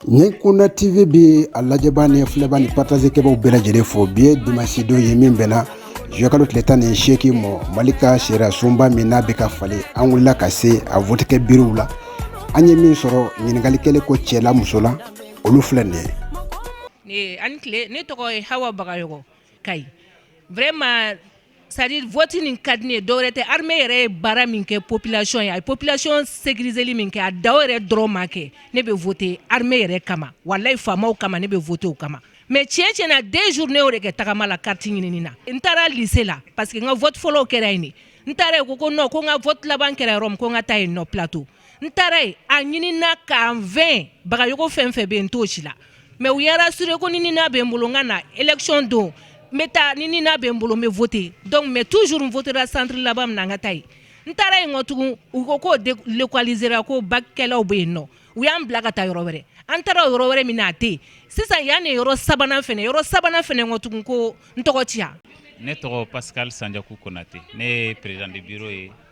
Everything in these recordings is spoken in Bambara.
nin kunda tv bɛ a lajɛba ni filɛba ni partage kɛbaw bɛɛ lajɛlen fo bi ye dimansidon ye min bɛnna juin kalo tile tan ni seegin mɔ mali ka sariyasunba min n'a bɛ ka falen an wulila ka se a vote kɛ bureauw la an ye min sɔrɔ ɲininkali kɛlen kɔ cɛ la muso la olu filɛ nin ye ne tɔgɔ ye Hawa Bagayogo Kayi vraiment C'est-à-dire vote nin ka di ne ye dɔwɛrɛ tɛ armée yɛrɛ ye baara min kɛ population ye a ye population sécuriseli min kɛ a da yɛrɛ dɔrɔn ma kɛ ne bɛ voter armée yɛrɛ kama walayi faamaw kama ne bɛ voter o kama mais tiɲɛ tiɲɛ na 2 jours ne y'o de kɛ tagama la carte ɲinini na n taara lycée la parce que n ka vote fɔlɔ kɛra yen n taara yen ko non ko n ka vote laban kɛra yɔrɔ min ko n ka taa yen nɔ plateau n taara yen a ɲinina k'a n fɛn bagayogo fɛn fɛn bɛ yen n t'o si la mais u y'a rassurer ko ni NINA bɛ n bolo n ka na élection don n bɛ taa ni NINA bɛ n bolo n bɛ voter donc mais toujours n votera centre laban min na n ka taa yen n taara yen nɔ tugun u ko k'o délocalisera ko bac kɛlaw bɛ yen nɔ u y'an bila ka taa yɔrɔ wɛrɛ an taara o yɔrɔ wɛrɛ min na a tɛ yen sisan yan de yɔrɔ sabanan fɛnɛ yɔrɔ sabanan fɛnɛ nɔ tugun ko n tɔgɔ tɛ yan ne tɔgɔ Pascal Sandiakou Konate ne ye président de bureau ye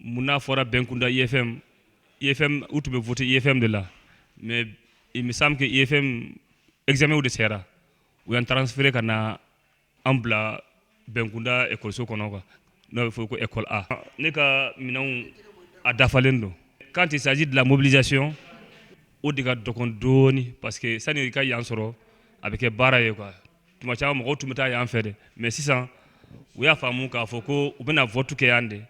mun n'a fɔra bɛn kunda efɛn u tun bɛ fɔ tɛ efɛn de la mɛ misabu kɛ efɛn ezw de sera u yan taara feereere ka na an bila bɛn kunda ekɔso kɔnɔ kan n'a bɛ fɔ ko ekɔ ne ka minɛn a dafalen don k'an tɛ saji dilan mobilizsi o de ka dɔgɔn dɔɔninɔni pa que sani i ka yan sɔrɔ a bɛ kɛ baara ye kuwa tuma caman mɔgɔw tun bɛ taa yan fɛ dɛ mais sisan u y'a faamu k'a fɔ ko u bɛna vote kɛ yan de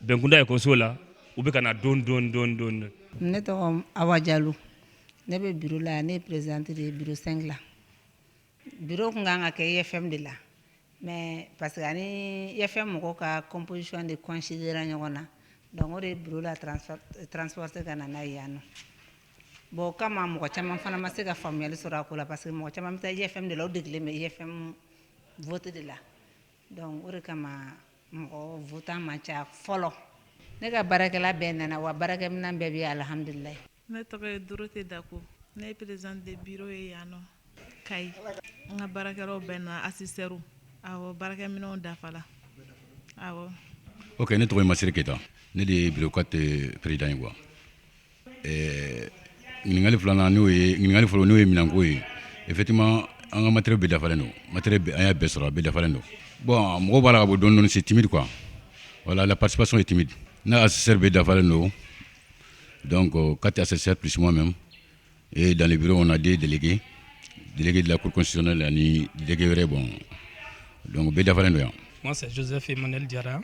bɛnkunda ekɔliso la u bɛ ka na dɔɔni dɔɔni dɔɔni dɔɔni. ne tɔgɔ Awa Jalo ne bɛ bureau la yan ne ye présidente de ye bureau 5 la bureau tun kan ka kɛ IFM de la mais parce que an ni IFM mɔgɔw ka composition de coïncidera ɲɔgɔn na donc o de ye bureau la transporter ka na n'a ye yan nɔ. Bon o kama mɔgɔ caman fana ma se ka faamuyali sɔrɔ a ko la parce que mɔgɔ caman bɛ taa IFM de la u degelen bɛ IFM vote de la donc o de kama mɔgɔ votant man ca fɔlɔ ne ka baarakɛla bɛɛ nana wa baarakɛminɛn bɛɛ bɛ yen alhamdulilayi. Ne tɔgɔ ye Dorote Dako ne ye présidente de bureau ye yan nɔ Kayi n ka baarakɛlaw bɛɛ nana assesseurs awɔ baarakɛminɛnw dafala awɔ. Ok ne tɔgɔ ye Masire Keyita ne de ye bureau 4 président ye quoi. Ɲininkakali filanan n'o ɲininkakali fɔlɔ n'o ye minɛnko ye eti an ka matɛre bɛ dafalen don ma an y'a bɛɛ sɔrɔ a bɛ dafalen don bɔn mɔgɔ b'a la bɔ dɔndon se tibiri kuwa wala la pasipaso ye tɛmɛmi n' y'a se bɛ dafalen don dɔn ko ka taa se se psima mɛn e dan bi kɔnɔ na den dege dege la ko kɔsi la ni degege wɛrɛ bɔ dɔnku bɛ dafa don yan